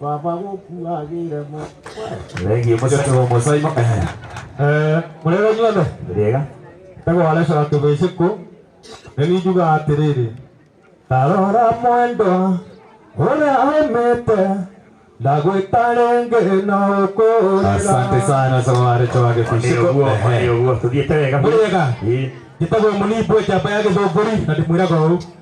baba gũkuagĩre mo Thengiũ mũcotogo mũcoimo. mũrega inyuothe Rĩega. ndagwarecora tũgĩcĩkũ nĩ ninjugaga atĩrĩrĩ tarora mwendwa ũrĩa aumĩte ndagwĩta rĩngĩ na ũkũrĩra Asante sana Saware Chwage Kushiko. Nĩguo, nĩguo, tũthiĩte wega. Mũrĩega? Ĩĩ. njĩtagwo mũnimbu njamba ya gĩthũngũri na ndĩmwĩraga ũũ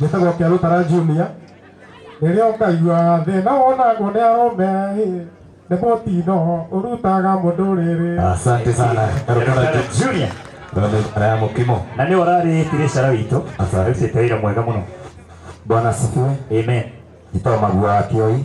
gĩtagwo kĩa rũtara junior rĩrĩa ũkaigua thĩna wonagwo nĩ arũme nĩ mũtino ũrutaga mũndũ rĩrĩ Asante sana Karukara Junior. Ndio ya mkimo. na nä wararä tirecera witå Asante. arutite wä ra mwega må no Bwana asifiwe. amen Jitoma bwa kioi.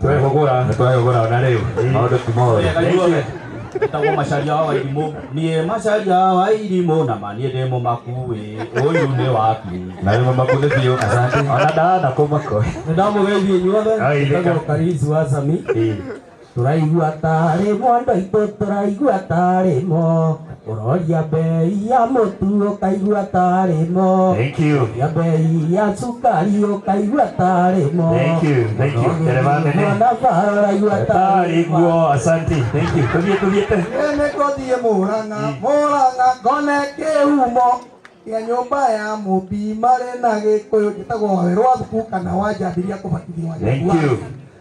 Twehũgũra. Twehũgũra ona rĩu. Maũndũ ti moru. Inyuothe ndagwo macaria wa irimũ niĩ macaria wa irimũ na ma niĩ ndĩ mũmakuĩ ũyũ nĩ waku na nĩ mũmaku nĩ biũ asante ona ndana kũmako nĩ ndamũgeithia inyuothe ndagwo karisi wa sami tũraigua tarĩ mwandũ aitũ tũraigua tarĩ mo Ũroria mbei ya mũtu ũkaigua tarĩ mo. Thank you. Ũroria mbei ya cukari ũkaigua tarĩ mo. Thank you, thank you. Ũroria Ndereba nene. mwana bara ũraigua tarĩ Tarĩ mo. guo, asante. Thank you. Tũthiĩ, tũthiĩ te. Nene ngothiĩ mũrang'a mũrang'a ngone kĩhumo gĩa nyũmba ya mũmbi marĩ na gĩkũyũ njĩtagwo wawerwa thuku kana wanjambiria kũbatithio wa Thank Nyakuwa. you.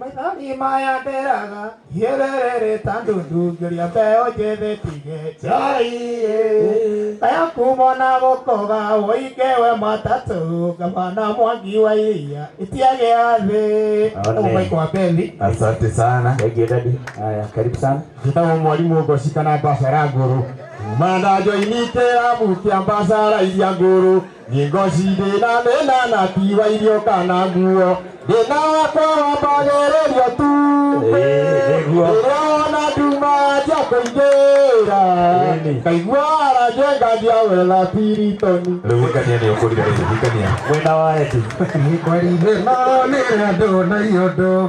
Maithori maya nderaga hierere tandu ndungiria mbeo njĩthĩ tige njai aya kumona gũkoga ũinge we matatũ ngavana mwangi wa iria itiage athĩ Amen. ũmaiko wa bethi Asante sana. Thank you daddy. Haya, karibu sana. njĩtagwo mwarimũ ngoci kana mbacara ngũrũ mandanjo initĩra mukia mbacaraithia ngũrũ Ngozi ndĩna mena na tiwa irio kana nguo ndĩna wakwa wambagererio tu nĩguo. rĩrĩa wona nduma nja kũingĩra Ĩni. kaigua aranjia nganjia wetha piritoni Rĩu hikania nĩ ũkũrire rĩu hikania. Mwena wa Eti. Kweli thĩna nĩrĩa ndona iũndũ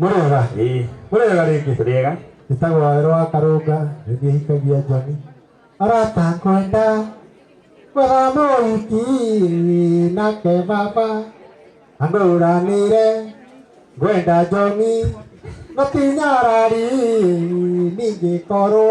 Mũrĩega? Ĩĩ. Mũrĩega rĩngĩ? Tũrĩega. Njĩtagwo Wawerũ wa Karũnga, nĩ niĩ hikagia Njoni. Arata ngwenda gwetha mũhiki nake baba anũranĩre ngwenda Njoni no ti nyarari ningĩkorwo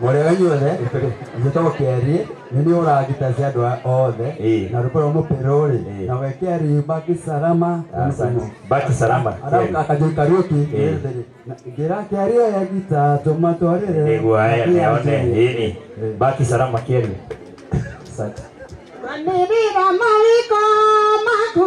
Mwarega inyuothe njĩtagwo Kĩariĩ nĩ nĩ ũragita cia andũ aya othe Ĩĩ. na rũkorwo mũpero rĩ Ĩĩ. na wekĩari baki salama Asante. Baki salama. Kĩariĩ. akajoi kariuki Ĩĩ. ngira Kĩariĩ oya gita tũmatwarĩre Nĩguo aya Kĩariĩ nĩone. anjĩrĩre. Ĩni. Baki salama Kĩariĩ. Asante. Manirira mawiko maku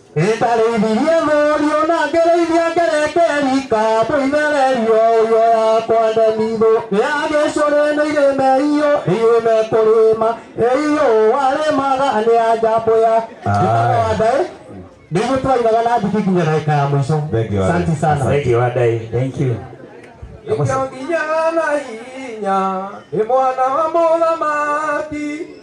Nĩndarĩithirie mũriũ na ngĩrĩithia ngerekeri kambũ ithererio ũyo yakwa ndemitho nĩagĩcũrĩ nĩ irĩme iyo irĩme kũrĩma iyo warĩmaga nĩ ya njambũ ya ndĩmagwandaĩ nĩguo twainaga na ndiki nginya ndagĩka ya mũico Thank you, Asante sana Thank you, Adai. Thank you. Nĩkĩo nginya na hinya nĩ mwana wa mũthamaki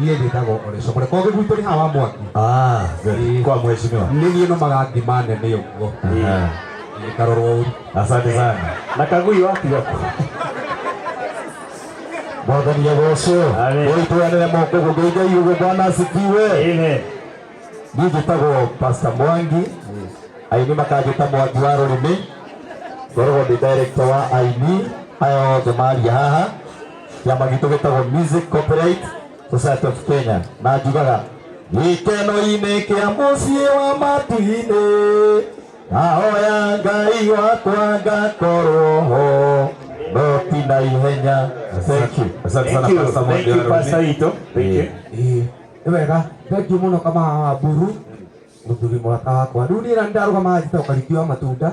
niä njä tagwo orecokore kogä gwitå nä hawa mwaki Ah, good. Kwa mheshimiwa. nä niä no magathima nene å guo Aha. gä karorwo å ru Asante sana. Na kagui wapi hapo? Mwathani agocwo. Amen. Ũitwanĩre moko gũkũ Ngai ũguo Bwana asifiwe. Amen. Niĩ njĩtagwo Pastor Mwangi. Aini makanjĩta Mwangi wa rũrĩmĩ. Ngoragwo ndĩ director wa aini aya othe maria haha. kĩama gitũ gĩtagwo Music Copyright Society of Kenya na njugaga gĩkeno-inĩ kĩa mũciĩ wa matu-inĩ ahoya ngai wakwa ngakorwo ho no ti na ihenya thank you asante sana Thank you. Pastor Mwangi Thank you, Aroni. Pastor Ito. Thank you. Ĩĩ, nĩ wega thengiũ mũno kama wa mburu mũthuri mwaka wakwa rĩu niĩ na ndarũgama njita ũkarĩki wa matunda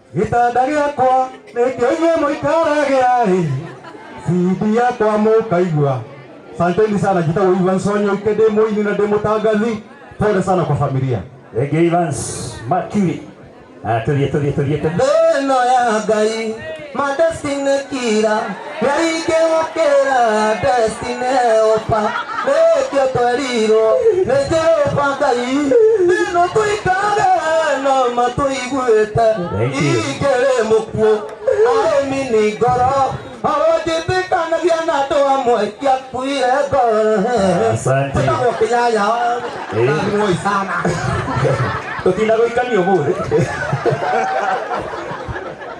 gĩtanda gĩakwa nĩkĩo inyuĩ mũikaragĩra ĩ cindi yakwa mũkaigua santeni sana njĩtagwo ivan sonyo ike ndĩ mũini na ndĩ mũtangathi pole sana kwa familia Thank you, Evans. Mercury. Ah, tulie, tulie, tulie, tulie. thĩno ya ngai madestinekira Kaingĩ gũkĩra ndestinĩ ũba nĩkĩo twerirwo nĩ Jehova Ngai thĩno tũikare na matũiguĩte ingĩrĩ mũkuũ arĩmi nĩ ngoro awonjĩtĩkanagia na andũ amwe kĩakuire ngoro Asante. ĩtagwo kĩnyanya na muoi sana Tũtinda gũikania ũmũthĩ.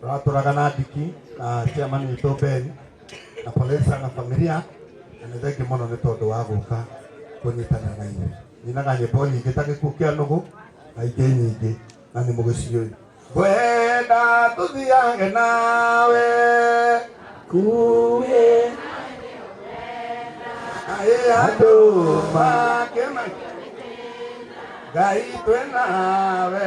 Turatũraga na ndiki na chairman witũ Ben na pole sana familia, na nĩ thengi mũno nĩ tondũ wa gũka kũnyitana na inyuĩ. Nyinaga nyĩmbo nyingĩ ta gĩkuũ kĩa nũgũ na ingĩ nyingĩ na nĩ mũgĩciũĩ. Ngwenda tũthiage nawe kuĩ ayĩ andũ makĩma Ngai twĩ nawe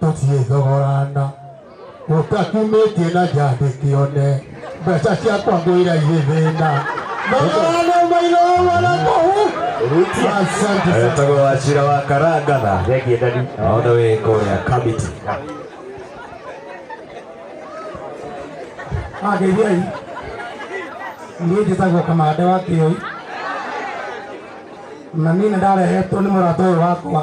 tũtiĩthogorana ũtakumĩtie na njandĩ kĩone mbeca ciakwa ngwĩra irĩ thĩna thogorana mairogwa na kũhu asante sana. Etagwo Wachira wa Karangana. Thengie ndani. Naona wĩ kũrĩa Kamiti. ageithiai niĩ njĩtagwo kamande wa kĩoi na niĩ nĩ ndarehetwo nĩ mũrata ũyũ wakwa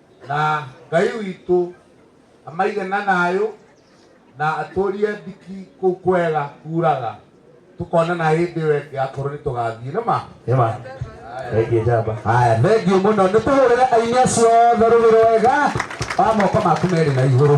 na ngai witũ amaige na thayũ na atũrie ndiki kũu kwega kuraga tũkonana hĩndĩ ĩyo ĩngĩ akorwo nĩ tũgathiĩ nĩma Nĩma. Thengiũ njamba. haya thengiũ mũno nĩ tũhũrĩre aini acio othe rũgĩrĩ wega wa moko maku merĩ na igũrũ